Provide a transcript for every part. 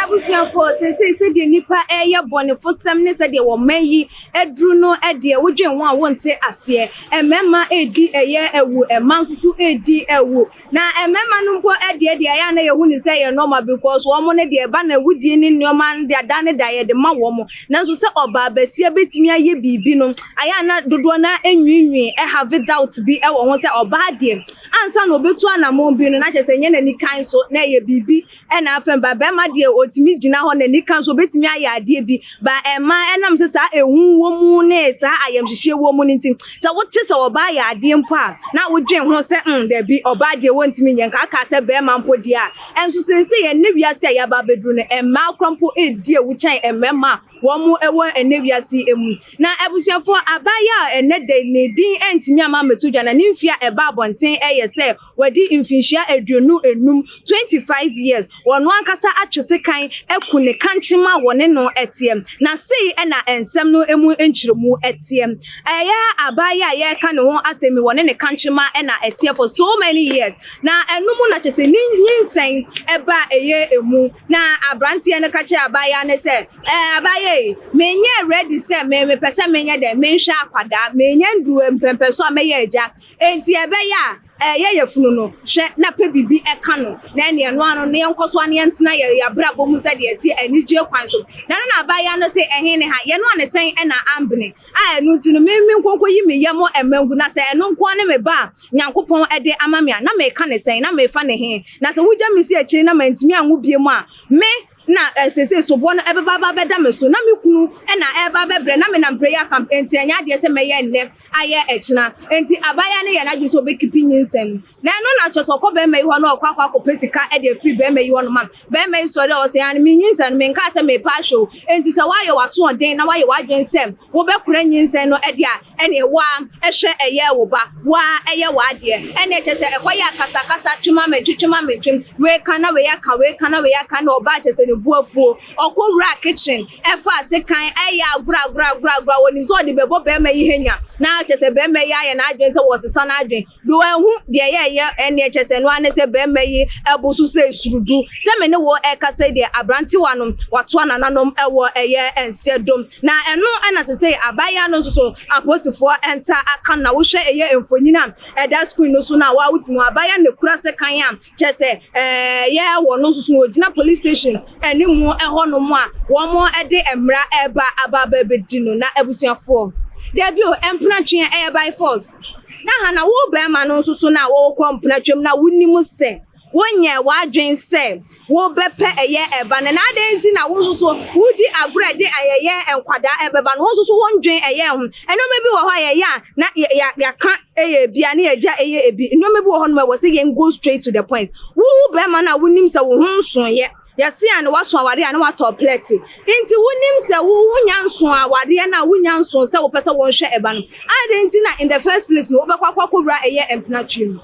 abusuafoɔ sɛsei sɛdeɛ nnipa ɛyɛ bɔnefosɛm ne sɛdeɛ wɔn mma yi aduru no ɛdeɛ wodwen ho a wonte aseɛ mmarima ɛredi ɛyɛ awu mmaa nso so ɛredi awu Na mmarima no mpo deɛ deɛ ɛyɛ a na yɛhu no sɛ ɛyɛ normal because wɔn no deɛ ɛba no awudie ne nneɛma no deɛ da ne da yɛde ma wɔn nanso sɛ ɔbaa basia bɛtumi ayɛ biribi no ayɛ a na dodoɔ no ara nwiinwii ɛhave doubt bi wɔ ho sɛ ɔbaa deɛ ansa na ɔbɛtu anamɔn bi no na kyerɛ sɛ ɛnyɛ n'anikan so na ɛyɛ biribi Ɛna afɛm ba bɛɛma deɛ ɔtumi gyina hɔ n'ani ka nso ɔbɛtumi ayɛ adeɛ bi ba ɛma ɛnam sɛ saa ehu wɔ mu ne saa ayɛmhyehyeɛ wɔ mu no nti sɛ wote sɛ ɔbaa yɛ adeɛ mpo a na wodwen ho sɛ mm dabi ɔbaa deɛ wɔntumi nyɛ nka aka sɛ bɛɛma mpo deɛ a ɛnso seesei ɛnɛ wiase a yɛaba abɛduru no mmaa kora mpo ɛredi awu kyɛn mmarima a wɔn ɛwɔ ɛnɛ wiase mu na abusuafoɔ abaayewa a ɛnɛ da ne din ɛntumi ama mmɛto dwa na ne mfie a ɛba abɔnten ɛyɛ sɛ Wadi mfinhyia aduonu anum, 25 years, wɔ ɔno ankasa atwe sekan aku ne kankyem a wɔne no teɛ, na sei na nsɛm no mu nkyerɛmu teɛ, Ɛyɛ abaa yi a yɛreka ne ho asɛm yi, wɔne ne kankyem ara na ɛteɛ for so many years, na ɛno mu na kyerɛ sɛ ne nyinsɛn ba a ɛyɛ emu, na aberanteɛ no ka kyerɛɛ abaayewa no sɛ, Ɛɛ, abaayewa yi, menyɛɛ ready sɛ me, mepɛ sɛ menyɛ dɛn, menhwɛ akwadaa, menya nnuru mpɛmpɛnso a mɛyɛ agya, Enti ɛbɛyɛ a ɛyɛ yafunu no, hwɛ na pɛ biribi ka no, na ɛne ɛno ano no, na yɛnkɔ so ara na yɛntena yɛn abrabɔ mu sɛdeɛ ɛteɛ, anigyeɛ kwan so. Na ɛno na abaayewa no se, Ɛhe ne ha? Yɛnoa no sɛn na ambene? A ɛno nti no, me nkɔ nkɔyi me yam mma ngu, na sɛ ɛno nko ara ne me ba a Nyankopɔn de ama me a, na mereka ne sɛn? Na merefa ne he? Na sɛ wogya me si akyire na mantumi anwo bio a, me, na seesei soboɔ no bɛba aba abɛda me so, na me kunu na ɛreba abɛbrɛ, na menam prayer camp, enti ɛnyɛ adeɛ sɛ mɛyɛ nnɛ ayɛ ɛkyena, enti abaayewa no yɛɛ n'adwene sɛ ɔbɛkipi nyinsɛn no, na ɛno na kyerɛ sɛ ɔkɔ barima yi hɔ na ɔkɔ akɔ akɔpɛ sika de afiri barima yi hɔ nom a, barima yi sɔre a ɔse aane menyinsɛn no, menkaa sɛ mepɛ ahwɛ o, enti sɛ woayɛ w'asoɔden na woayɛ w'adwene sɛ wobɛkora nyinsɛn no de a, Ɛneɛ woaa hwɛ ɛyɛɛ wo ba woaa yɛ w'adeɛ ɛneɛ kyerɛ sɛ ɛkɔ yɛɛ kasa kasa twem ame ntwe twem ame ntwem wei ka na wei aka wei ka na wei aka ɛneɛ ɔbaa kyerɛ sɛ ne bo afuo ɔkɔ wuraa kitchen ɛfaa sekan ɛyɛ agorɔ agorɔ agorɔ agorɔ a ɔnim sɛ ɔde bɛbɔ bɛɛma yi hanya na kyerɛ sɛ bɛɛma yi ayɛ n'adwen sɛ wɔɔsesa n'adwen Do ehu deɛ yɛɛyɛ ɛneɛ kyɛsɛ ɛno ara ne sɛ bɛɛma yi ɛbo so sɛ esuru do sɛ me ne wo ɛɛkasa yi deɛ abrantewa no watoa nananom ɛwɔ ɛyɛ ɛnseɛ do na ɛno ɛna sesei abaayewa no nso so apolisifoɔ ɛnsa aka no na wo hwɛ ɛyɛ mfonyin a ɛda screen no so no a wo a wo te mu a abaayewa no na ekura sekan a Kyerɛ sɛ, ɛyɛ wɔn nso so na wɔgyina police station anim hɔnom a wɔde mmara reba aba abɛdi no. Na abusuafoɔ, dabi o, mpenatwe a ɛyɛ by force. Na ha na wo barima no nso so na wokɔ mpenatwam na wonim sɛ wonyɛɛ w'adwene sɛ wobɛpɛ ɛyɛ ɛba no. Na adɛn nti na wo nso so wodi agorɔ de ɛyɛ nkwadaa ɛbɛba no? Wo nso so wondwen ɛyɛ ho? Nneɛma bi wɔ hɔ a yɛyɛ a na yɛaka Ɛyɛ ebi a ne agya ɛyɛ ebi nneɛma bi wɔ hɔ nom a ɛwɔ sɛ yɛn go straight to the point wowu bɛrima no a wonim sɛ wo ho nsoeɛ yɛse a na waso awadeɛ a na watɔ plɛte nti wonim sɛ wo wonya nso awadeɛ no a wonya nso sɛ wopɛ sɛ wonhwɛ ɛba no adɛn nti na in the first place no wobɛkɔ akɔ akɔwura ɛyɛ mpena tiri mu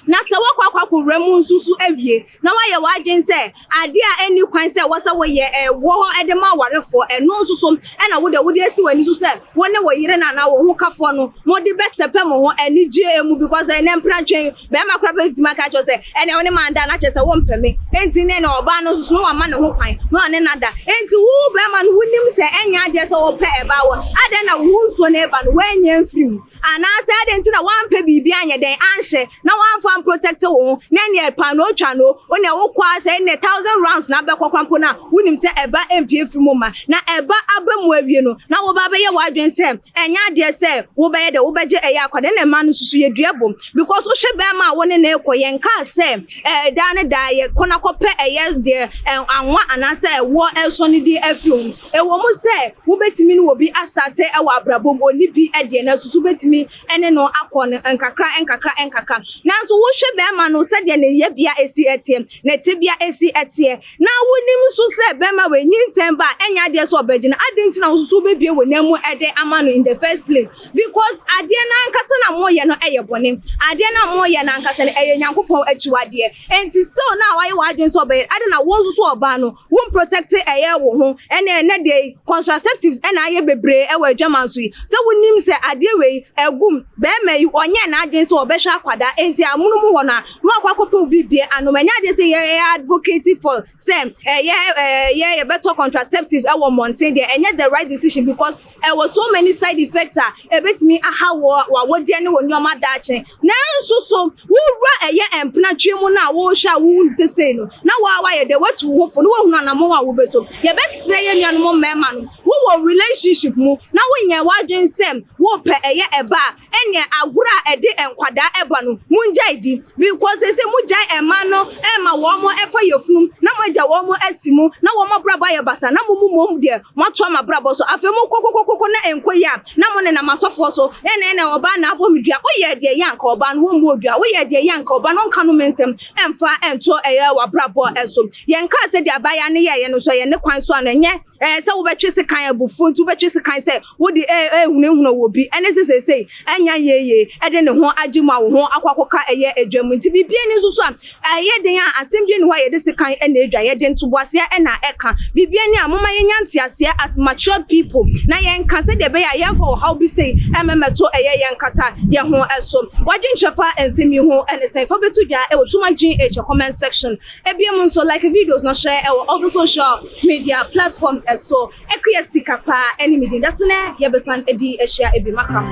Na sɛ woakɔ akɔko wura mu nso so awie, na woayɛ w'adwene sɛ adeɛ a ɛnni kwan sɛ ɛwɔ sɛ woyɛ wɔ hɔ de ma awarefoɔ, ɛno nso so na wo deɛ wode asi w'ani so sɛ wo ne wo yere no anaa wo hokafoɔ no mode bɛsɛpɛ mo ho anigyeɛ mu, because ɛnnɛ mpratwe yi barima koraa bɛtumi aka akyerɛ wo sɛ ɛnneɛ wo ne me an'da na kyerɛ sɛ wompɛ me, enti ne na ɔbaa no nso so na wama ne ho kwan na ɔne no ada, enti wo barima no wonim sɛ ɛnyɛ adeɛ sɛ wopɛ ɛbaa wɔ, adɛn na wo ho nsuo na ɛba no woannya amfiri mu? Anaasɛ adɛn nti na woampɛ biribi anyɛ dɛn anhyɛ na woamfa amprotɛkte wo ho na ɛnneɛ paanoo twa no o, wonea wokɔ ara sɛ ɛnneɛ thousand rounds na abɛkɔ koraa mpo no a wonim sɛ ɛba mpue firi mu mma na ɛba aba mu awie no na woba abɛyɛ w'adwene sɛ ɛnyɛ adeɛ sɛ wobɛyɛ dɛn wobɛgye ɛyɛ akɔ dɛn na mmaa no nso so yɛdua bom because wohwɛ bɛɛma a wo ne no rekɔ yɛnkaa sɛ ɛɛ daa ne daa yɛkɔ no akɔpɛ ɛyɛ deɛ ɛɛ anwa anaasɛ ɛwoɔ ɛresɔ no din afiri ho. Ɛwom sɛ wubetumi ne obi astate wɔ abrabɔ mu, onni bi deɛ, nanso so wubetumi ne no akɔ no nkakra nkakra nkakra? Nanso wohwɛ bɛrima no sɛdeɛ ne yɛbea si teɛ, ne tebea si teɛ, na wunim nso sɛ bɛrima wei nyinsɛn ba a, ɛnyɛ adeɛ sɛ ɔbɛgyina, adɛn nti na wo nso so wobɛbue wo nan mu de ama no in the first place? Because adeɛ no ankasa no a moreyɛ no yɛ bɔne. Adeɛ no a moreyɛ no ankasa no, ɛyɛ Nyankopɔn akyiwadeɛ. Enti still no a woayɛ w'adwene sɛ wobɛyɛ, adɛn na wo nso so ɔbaa no Wo mprotect ɛyɛ wo ho ɛnɛ ɛnɛ deɛ yi contraceptives ɛna ayɛ bebree ɛwɔ adwaman so yi sɛ wo nim sɛ adeɛ wei ɛgum bɛɛma yi ɔnyɛ n'adwen sɛ ɔbɛhwɛ akwadaa ɛnti amono mu hɔ no a na wakɔ akɔpɛ obi bie anom ɛnyɛ adeɛ sɛ yɛ yɛ advocating for sɛ ɛyɛ ɛyɛ yɛbɛtɔ contraceptive ɛwɔ mmɔnten deɛ ɛnyɛ the right decision because Ɛwɔ so many side effects a ɛbɛtumi ahaw wo awodeɛ ne wo nnoɔma daakye. Nanso so wo wura ɛyɛ mpena twe mu no a wohwɛ a wohu no sesei no na wo ara wayɛ dɛ watu wo ho fo na wahunu anamɔn a wobɛto. Yɛbɛsrɛ yɛn nuanom mmarima no, wowɔ relationship mu na wonyɛɛ w'adwene sɛ worepɛ ɛyɛ ɛba a, Ɛneɛ agorɔ a ɛde nkwadaa ɛba no mongyae di because seesei mogyae mmaa no ma wɔn ɛfa yafunum na moagya wɔn asi mu na wɔn abrabɔ ayɛ basaa na mo mu mmom deɛ moato ama abrabɔ so afei mo kokokokoko na ɛnkɔ yie a na mo nenam asɔfoɔ so ɛna ɛna ɔbaa na abɔ me dua woyɛɛ deɛ yɛ anka ɔbaa no ɔmmɔɔ dua woyɛɛ deɛ yɛ anka ɔbaa no ɔnka nnome nsɛm ɛmfa ɛnto ɛyɛ w'abrabɔ so yɛnkaa sɛdeɛ abaayaa no yɛɛyɛ no nso ɛyɛ ne kwan so ano ɛnyɛ ɛɛ sɛ wobɛtwe sekan abufuo nti wobɛtwe sekan sɛ wo de eh, eh, hunahuna wɔ bi ɛne se seesei ɛnya yeeye ɛde ne ho agye mu a wo ho akɔ akɔka ɛyɛ adwa mu nti biribi ani nso so a ɛyɛ den a asɛm bi ani hɔ a yɛde sekan ɛna adwa yɛde ntoboaseɛ ɛna ɛka biribi ani a moma yɛnya nteaseɛ as matured people na yɛnka sɛdeɛ ɛbɛyɛ a yɛmfa ɔhaw bi sei ɛmɛmɛto ɛyɛ yɛn kasa yɛ ho ɛso wadwenkyerɛ fa nsɛm yi ho ɛne sɛn fa bɛto dwa ɛwɔ tuma gh comment section ebia mu nso like videos na hyɛ ɛwɔ all the social media platform ɛso Akua sika paa ɛne me din. Dase nɛ yɛbɛsan adi ahyia ɛbi maka ho.